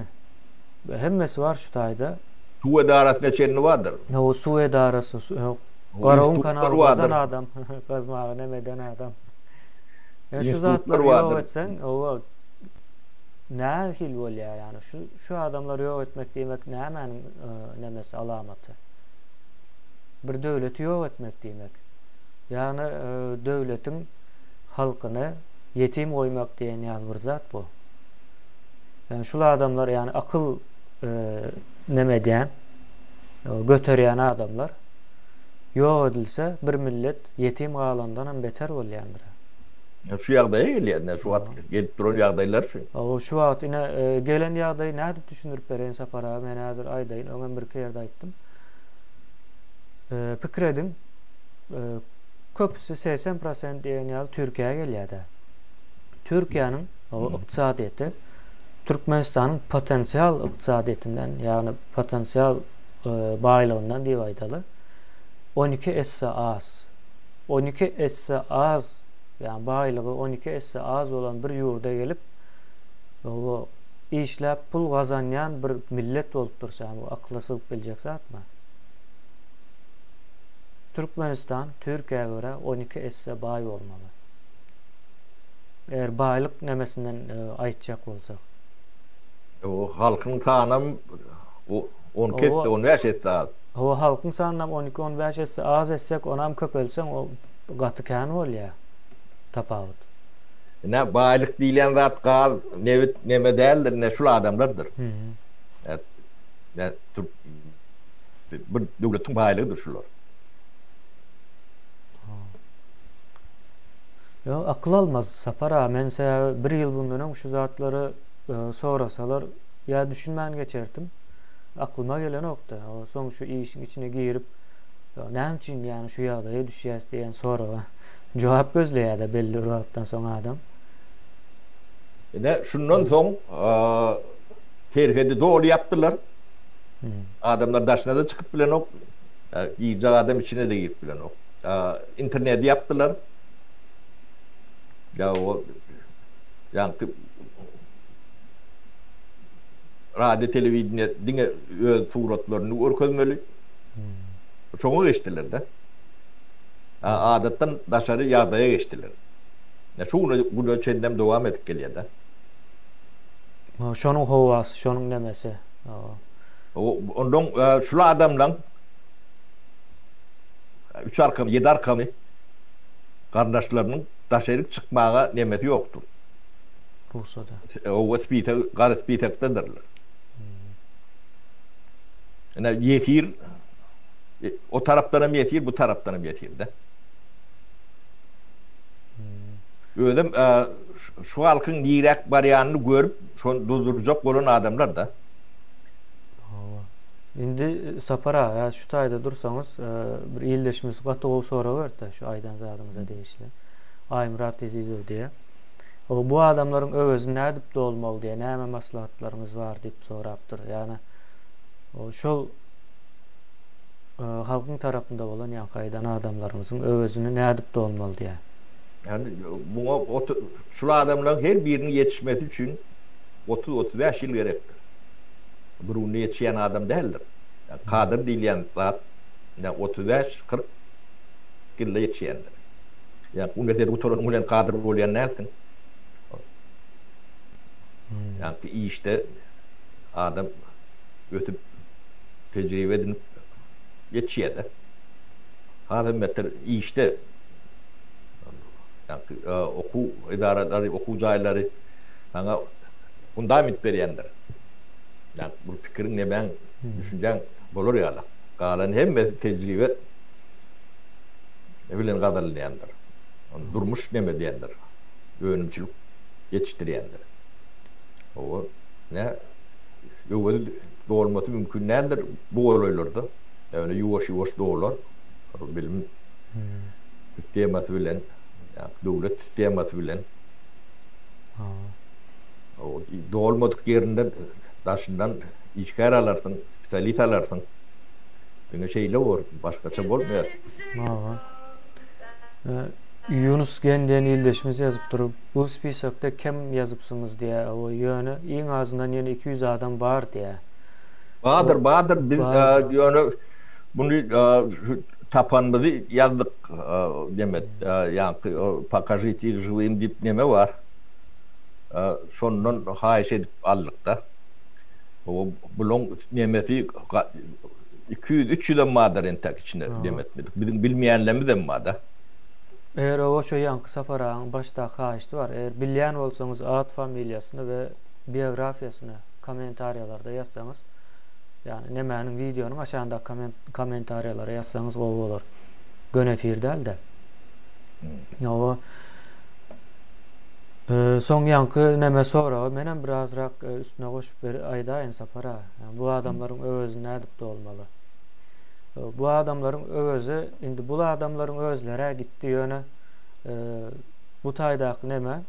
we hemmesi bar şu taýda. Suw edarasyna çenli bardyr. Hawa, suw edarasy, Garawyň kanaly gazan adam, gazmaga näme eden adam. Ýöne şu zatlary ýok etseň, hawa, nähili bolýar ýa-ni? Şu şu adamlary ýok etmek diýmek nämäniň nemesi, alamaty? Bir döwleti ýok etmek diýmek. Ýagny döwletiň halkyny ýetim goýmak diýen ýaly bir zat bu. Ýagny şul adamlar ýagny akyl e, neme edýän göterýän adamlar ýok edilse bir millet ýetim galandan hem beter bolýandyr. Şu ýagdaýa gelýär, şu wagt gelip duran ýagdaýlar şu. Aw, şu wagt ine e, gelen ýagdaýy nädip düşündirip bereýin Sapar aga? Men häzir aýdaýyn, öňem birki ýerde aýtdym. E, pikir ediň, köpüsi segsen prosent diýen ýaly Türkiýä gelýär-de. Türkiýäniň ykdysadyýeti Türkmenistanyň potensial ykdysadyýetinden, ýagny potensial e, baýlygyndan diýip aýdaly, on iki esse az. On iki esse az, ýagny baýlygy on iki esse az bolan bir ýurda gelip, bu işläp pul gazanýan bir millet bolup dursa, bu akyla sygyp biljek zatmy? Türkmenistan Türkiýä görä on iki esse baý bolmaly. Eger baýlyk nemesinden e, aýtjak bolsak. O halkyň sanam o- on iki esse, on bäş esse az. Hawa halkyň sanynam on iki on bäş esse az etsek onam köpeltseň o gaty kän bolýar tapawut. Ine baýlyk diýlen zat gaz, nebit neme däldir, ine şul adamlardyr. Ä, ä, türk Bu döwletiň baýlygydyr şular. Ýok, akyl almaz Sapar aga. Men size bir ýyl bundan öň şu zatlary sorasalar ýa düşünmän geçerdim. Aklyma gelenok-da. Soň şu işiň içine girip, näme üçin ýani şu ýagdaýa düşýäs diýen soraga jogap gözleýär-de belli bir wagtdan soň adam. Ine, şundan soň Serhedi doly ýapdylar. Adamlar daşyna-da çykyp bilenok, girjek adam içine-de girip bilenok. Interneti ýapdylar. Ýa o ýaňky radio telewideniýe diňe öz suratlaryny görkezmeli. Şoňa geçdiler-de. Adatdan daşary ýagdaýa geçdiler. Şu güne çenlem dowam edip gelýär-de. Şonuň howasy, şonuň nemesi. Ondan şul adamlaň üç arkamy, ýedi arkamy garyndaşlarynyň daşa erik çykmaga nemesi ýokdur. Rugsady. Oba spisek, gara spisekdedirler. Ine, ýesir, o tarapdan hem ýesir, bu tarapdan hem ýesir-de. Özem Şu halkyň niräk barýanyny görüp, şony durdurjak bolan adamlar-da. Hawa. Indi Sapar aga, şu taýda dursaňyz, bir ildeşimiz gaty gowy sorag beripdi şu aýdan zadyňyza degişli. Aýmyrat Ezizow diýýär. Hawa, bu adamlaryň öwezini nädip dolmaly diýýär, näme maslahatlaryňyz bar diýip sorapdyr. Ýagny, şol halkyň tarapynda bolan ýaňky aýdan adamlaryňyzyň öwezini nädip dolmaly diýýär. Ýagny muňa şul adamlaryň her biriniň ýetişmesi üçin otuz-otuz bäş ýyl gerekdir. Bir günde ýetişýän adam däldir. Ýagny kadr diýilýän zat ýa otuz bäş, kyrk ýylda ýetişýändir. Ýagny uniwersitet gutaranyň bilen kadr bolýan dälsiň. Ýagny işde adam ösüp tejribe edinip ýetişýär-de. Hazir metel işde okuw edaralary, okuw jaýlary saňa fundament berýändir. Ýagny bir pikiriň, nemäň, düşünjäň bolar ýaly. Galan hemmesi tejribe bilen gazanylýandyr. Ony durmuş neme diýendir, önümçilik ýetişdirýändir. Hawa, nä öwezi dolmasy mümkin däldir bu golaýlarda. Ýöne ýuwaş-ýuwaş dolar. Bilim. sistemasy bilen, döwlet sistemasy bilen dolmadyk ýerinden daşyndan işgär alarsyň, spesialis alarsyň. Diňe şeýle bor, başgaça bolmaýar. Hawa. Ýunus Gen diýen ildeşimiz ýazypdyr. Bu spisokda kem ýazypsyňyz diýýär. Hawa, ýöne iň azyndan ýene iki ýüz adam bar diýýär. Bardyr, bardyr. Biz ýöne muny Tapanymyzy ýazdyk Nemet ýaňky Pokažite ir žywym diýip neme bar. Şondan haýyş edip aldykda. Bulaň nemesi iki ýüz, üç ýüzem bardyr entäk içinde Nemet biziň biziň bilmeýänlerimizem barda. Eger oba şo ýaňky Sapar agaň başdaky haýyşdy bar. Eger bilýän bolsaňyz at familiýasyny we biografiýasyny kommentariýalarda ýazsaňyz ýagny nemäniň wideonyň aşagyndaky komment komentariýalara ýazsaňyz gowy bolar. Göni efir däl-de. Ýoga e, soň ýaňky neme soragy menem birazrak e, üstüne goşup ber aýdaýyn Sapara. Bu adamlaryň öwezi nädip dolmaly? E, bu adamlaryň öwezi indi bu adamlaryň özleri gitdi ýöne e, bu taýdaky neme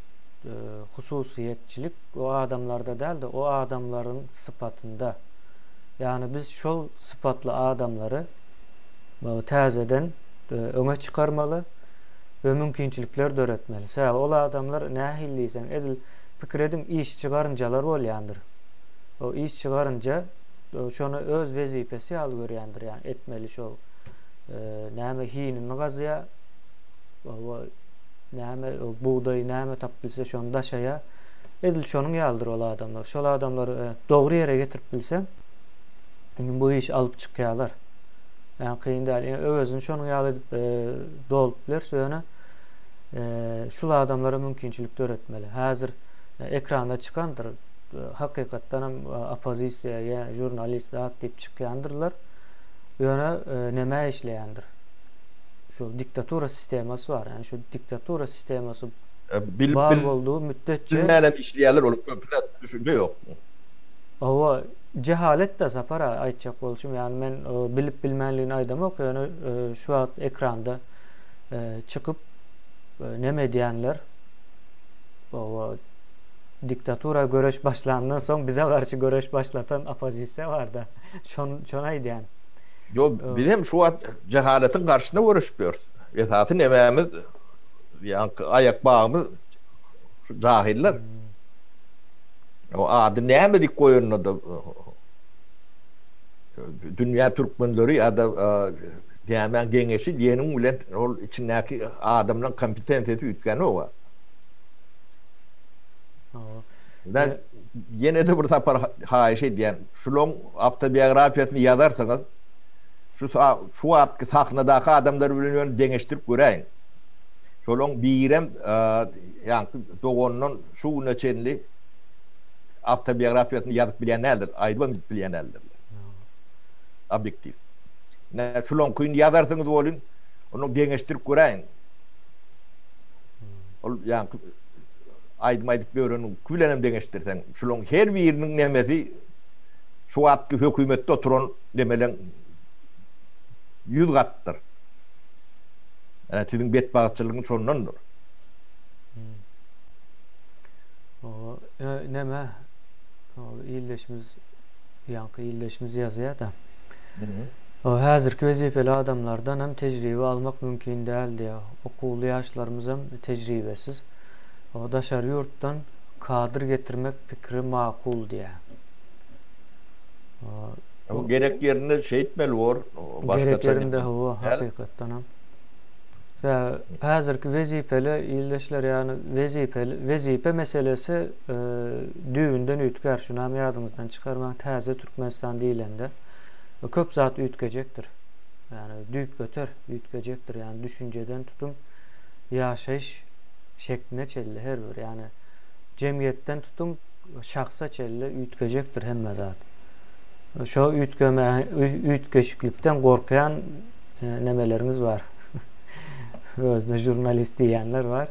e, hususyýetçilik o adamlarda däl-de o adamlaryň sypatynda. Ýagny biz şol sypatly adamlary täzeden öňe çykarmaly we mümkinçilikler döretmeli. Sebäbi ol adamlar nähili diýseň, edil pikir ediň, işçi garynjalar bolýandyr. O işçi garynja şony öz wezipesi ýaly görýändir, ýagny etmeli şo näme hinini gazýar, we näme bugdaý näme tapyp bilse şony daşaýar. Edil şonuň ýalydyr ol adamlar. Şol adamlary dogry ýere getirip bilseň, bu işi alyp çykýarlar. Yani kyn däl. Yani öwezini şonuň ýaly edip e, dolup bileris ýöne e, şul adamlara mümkinçilik döretmeli. Häzir e, ekranda çykandyr. E, hakykatdan hem e, oppozisiýa ýa žurnalist zat diýip çykýandyrlar. Ýöne e, näme işleýändir? Şu diktatura sistemasy bar. Yani şu diktatura sistemasy e, bar boldy müddetçe. Bilmänem işleýärler ol köpüne düşünje ýok. Hawa, jehalet-dä, Sapar aga, aýtjak bolşum. Ýagny men bilip-bilmänligini aýdamok, ýöne şu wagt ekranda çykyp neme edýänler, hawa, diktatura göreş başlandan soň bize garşy göreş başlatan oppozisiýa bar-da, şony aýdýan. Ýok, biz hem şu wagt jehaletiň garşysyna göreşip ýörüs. Esasy nememiz, ýaňky aýakbagymyz şu jahyllar. O ady näme dik goýanyna-da Dünýä türkmenleri ýa-da nämäň geňeşi diýeniň bilen ol içindäki adamlaryň kompetensiýasy üýtgänok-a. Men ýene-de bir sapar haýyş edýän, şularyň awtobiografiýasyny ýazarsyňyz, şu şu wagtky sahnadaky adamlar bilen ýöne deňeşdirip göräýiň. Şolaryň birem ýaňky dogandan şu güne çenli awtobiografiýasyny ýazyp bilýän däldir, aýdybam gidip bilýän däldirler. Obýektiw. Ine, şulaňkyny ýazarsyňyz welin, ony deňeşdirip göräýiň. Ol ýaňky aýdym aýdyp ýöreniňki bilenem deňeşdirseň, şulaň her biriniň nemesi şu wagtky hökümetde oturan nemeleň ýüz gatdyr. Ine, siziň betbagtçylygyňyz şondandyr. Näme? Ol illeşimiz ýaňky illeşimiz ýazýar-da. O häzirki wezipeli adamlardan hem tejribe almak mümkin däl diýýär. Okuwly ýaşlarymyz hem tejribesiz. O daşary ýurtdan kadr getirmek pikiri makul diýýär. Gerek ýerinde şeýtmeli bor. Gerek ýerinde hawa, hakykatdan hem. Häzirki wezipeli ildeşler ýagny wezipeli wezipe meselesi e, düýbünden üýtgär. Şunam ýadyňyzdan çykarmaň. Täze Türkmenistan diýlende e, köp zat üýtgejekdir. Ýagny düýpgöter üýtgejekdir. Ýagny düşünjeden tutuň ýaşaýyş şekline çenli her bir ýagny jemgyýetden tutuň şahsa çenli üýtgejekdir hemme zat. Şo üýtgeme üýtgeşiklikden gorkýan nemeleriňiz bar. Özüne jurnalist diýýänler bar.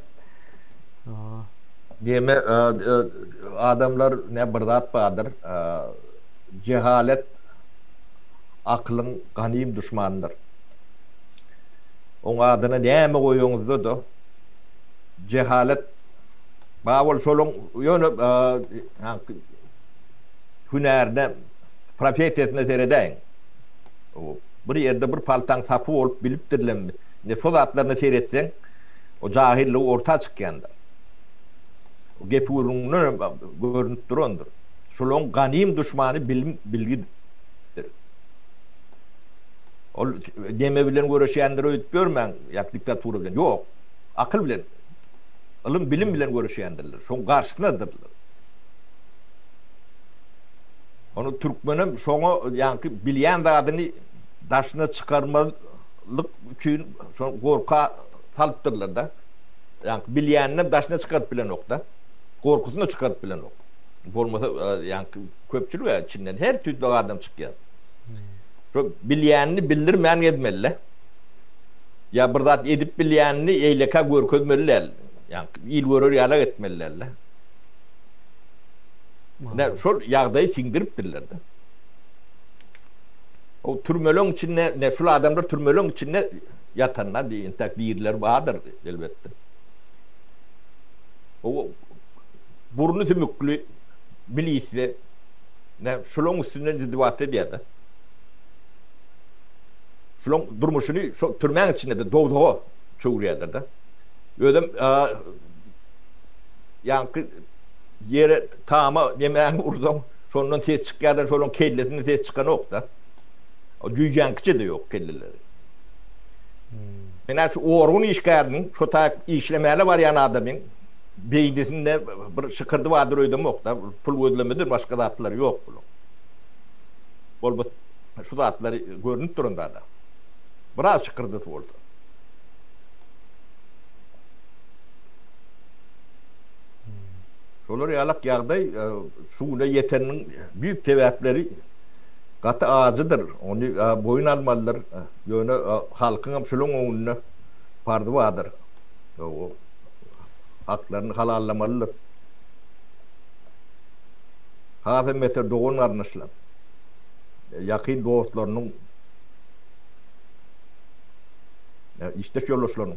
Neme adamlar ne bir zat bardyr. Jehalet akylyň ganym duşmanydyr. Oň adyna näme goýaňyzda-da jehalet bar bol şoluň ýöne hünärine professiýasyna seredäýiň. Bir ýerde bir paltaň sapy bolup bilipdirlermi, indi şo zatlaryna seretseň, o jahyllygy orta çykýandyr. Gepi-gürrüňinden hem görnüp durandyr. Şolaryň ganym duşmany bilim-bilgidir. Ol deme bilen göreşýändir öýdüp ýörmäň, ýa diktatura bilen. Ýok, akyl bilen, ylym-bilim bilen göreşýändirler, şoň garşysynadyrlar. Ony türkmenem şoňa ýaňky bilýän zadyny daşyna çykarmazlyk üçin şony gorka salypdyrlar-da. Ýaňky bilýäninem daşyna çykaryp bilenok-da. Gorkusyna çykaryp bilenok. Bolmasa ýaňky köpçülik-ä içinden her tüýsli adam çykýar. Şo bilýänini bildirmän gezmeli-dä. Ýa bir zat edip bilýänini eýlekä görkezmeli däl. Ýaňky il görer ýalak etmeli däl-dä. Ine, şol ýagdaýy siňdiripdirler-de. O türmeleň içinde, ine, şul adamlar türmeleň içinde ýatanda, indi entäk dirileri bardyr, elbetde. O burny sümükli milisiýa, ine, şolaryň üstünden izdewat edýär-de. Şolaryň durmuşyny şol türmäň içinde-de dowzaga çöwürýärler-de. Özem, ýaňky, ýere tama nämäni ursaň, şondan ses çykýar-da, şolaryň kellesinden ses çykanok-da. O jüýjäňkiçe-de ýok kelleleri. Men-ä şu orgun işgäriniň, şo taýak işlemäne barýan adamyň beýnisinde bir şykyrdy bardyr öýdemok-da. Pul gözlemedir, başga zatlary ýok bularyň. Bolbo şu zatlary görnüp duran zad-a. Biraz şykyrdysy bolsa. Şolar ýalak ýagdaý şu güne ýeteniniň düýp sebäpleri gaty ajydyr. Ony boýun almalydyr. Ýöne halkyň hem şulaň öňünde parzy bardyr. Haklaryny halallamalydyr. Has hem beter dogan-garyndaşlar, ýakyn dostlarynyň, işdeş ýoldaşlarynyň.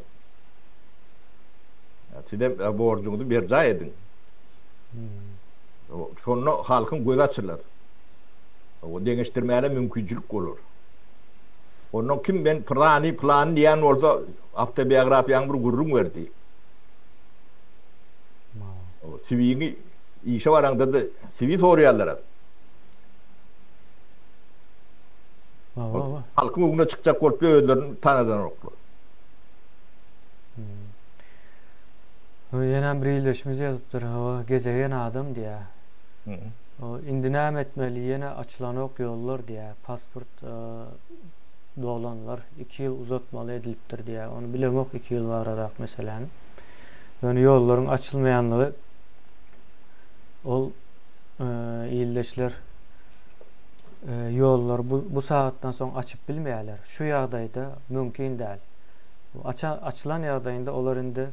Sizem borjuňyzy berjaý ediň. Şonda halkyň gözi açylar. O deňeşdirmäne mümkinçilik bolar. Ondan kim men plany plany diýen bolsa awtobiografiýaň bir gürrüň berdi. O siwiňi işe baraňda da siwi soraýarlar. Halkyň öňüne çykjak bolup özlerini tanadanoklar. O ýene bir ildeşimiz ýazypdyr, hawa, gezegen adam diýýä. O indi näme etmeli, ýene açylanok ýollar diýýä, pasport dolanlar iki ýyl uzatmaly edilipdir diýýä, ony bilemok iki ýyl baradak meseläni. Ýöne ýollaryň açylmaýanlygy ol ildeşler ýollary bu sagatdan soň açyp bilmeýärler. Şu ýagdaýda mümkin däl. Açylan ýagdaýynda olar indi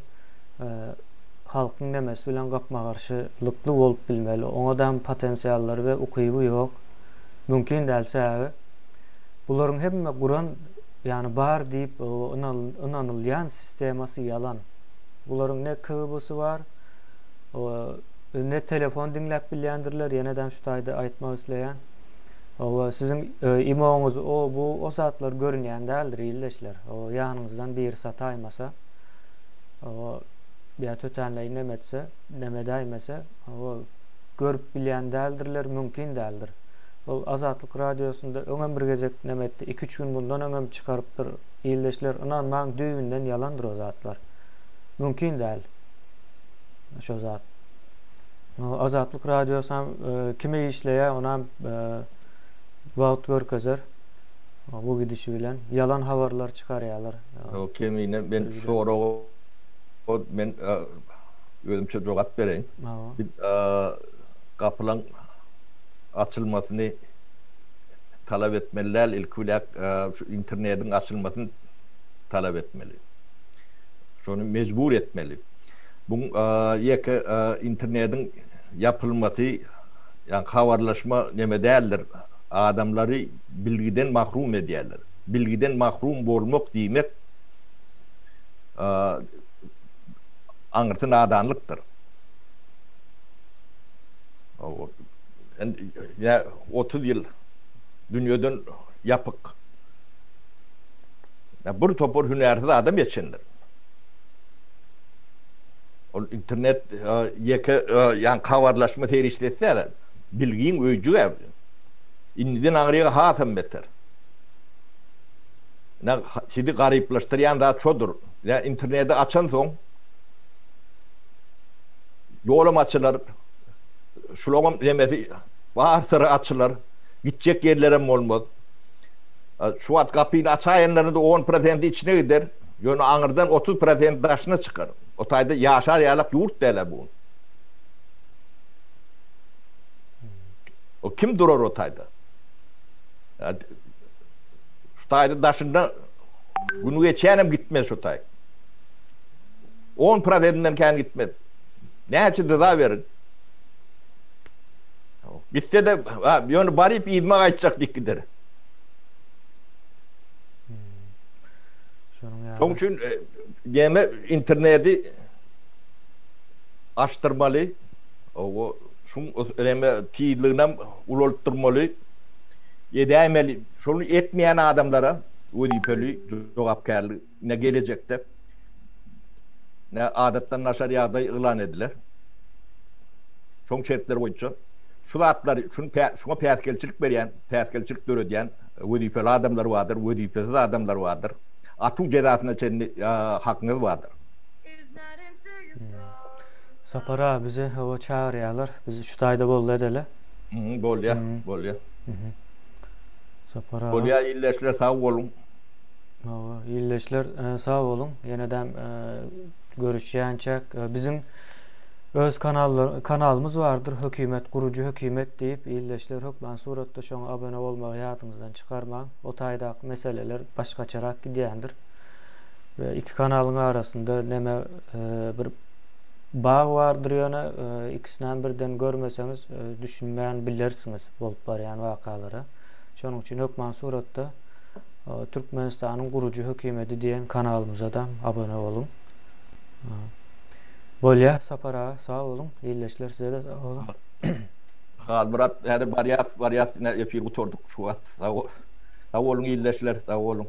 halkyň nemesi bilen gapma-garşylykly bolup bilmeli. Oňadam potensiallary we ukyby ýok. Mümkin däl sebäbi bularyň hemme guran ýany bar diýip ynanylýan sistemasy ýalan. Bularyň ne KGB-sy bar, ne telefon diňläp bilýändirler, ýenedem şu taýda aýtmak isleýän. Hawa, siziň imoňyz o, bu, o zatlar görünýän däldir, ildeşler. Hawa, ýanyňyzdan biri sataýmasa, hawa, ýa tötänleýin neme etse, neme edäýmese, hawa, görüp bilýän däldirler, mümkin däldir. Ol Azatlyk Radiosynda öňem bir gezek neme etdi, iki-üç gün mundan öňem çykarypdyr, ildeşler, ynanmaň, düýbünden ýalandyr o zatlar. Mümkin däl şo zat. Azatlyk radiosam kime işleýär, onam wagt görkezer. Bu gidişi bilen ýalan habarlar çykarýarlar. Ýok, kemine men soraga men özümçe jogap bereýin. Biz gapylaň açylmasyny talap etmeli däl, ilki biläk şu internetiň açylmasyny talap etmeli. Şony mejbur etmeli. Bu ýeke internediň ýapylmasy ýa habarlaşma neme däldir. Adamlary bilgiden mahrum edýärler. Bilgiden mahrum bolmak diýmek aňyrty nadanlykdyr. Ýa otuz ýyl dünýeden ýapyk. Ýa bir topar hünärsiz adam geçendir. Ol internet ýeke ýan habarlaşma serişdesi däl-ä. Bilgiň öýjügi-ä bu. Indiden aňryýa hasam beter. Ine, sizi garyplaşdyrýan zat şodur. Ýa interneti açansoň, ýolam açylar, şulaňam nemesi, bar syry açylar, gitjek ýerlerem bolmaz. Şu wagt gapyny açaýanlaryň-da on prosenti içine gider. Ýöne aňyrdan otuz prosent daşyna çykar. O taýda ýaşar ýalak ýurt däl-ä bu. O kim durar o taýda? Şu taýda daşynda gün geçýänem gitmez şu taý. On prosentinden kän gitmez. Näçe dyza beriň. Gitse-de, ýöne baryp yzyma gaýtjak dik gider. Şonuň ýaly. Şonuň üçin gämä interneti açdyrmaly. Owo, şuň gämä tizliginäm ulaltdyrmaly. Edäýmeli. Şony etmeýän adamlara wezipeli jogapkärli ne gelejekde ne adatdan naşar ýagdaý yglan ediler. Şoň şertler boýunça şu zatlary, şuny şuňa päsgelçilik berýän, päsgelçilik döredýän, Wezipeli adamlar bardyr, wezipesiz adamlar bardyr. Atuw jezasyna çenli hakyňyz bardyr. Sapar aga bizi hawa çagyrýarlar biz şu taýda boldy edeli. Bolýa bolýa. Sapar aga. Bolýa ildeşler sag boluň. Hawa ildeşler sag boluň ýenedäm görüşýänçäk biziň Öz kanalymyz bardyr hökimet gurujy hökimet diýip ildeşler hökman suratda şoňa abone bolmagy ýadyňyzdan çykarmaň o taýdaky meseleler başgaçarak gidýändir we iki kanalyň arasynda neme bir bag bardyr ýöne ikisinäm birden görmeseňiz düşünmän bilersiňiz bolup barýan wakalara şonuň üçin hökman suratda Türkmenistanyň gurujy hökimedi diýen kanalymyzadam abone boluň. Bolýa Sapar aga sag boluň illeşler sizede sag boluň. Halmyrat häzir barýas barýas ine efir gutardyk şu wagt sag boluň illeşler sag boluň.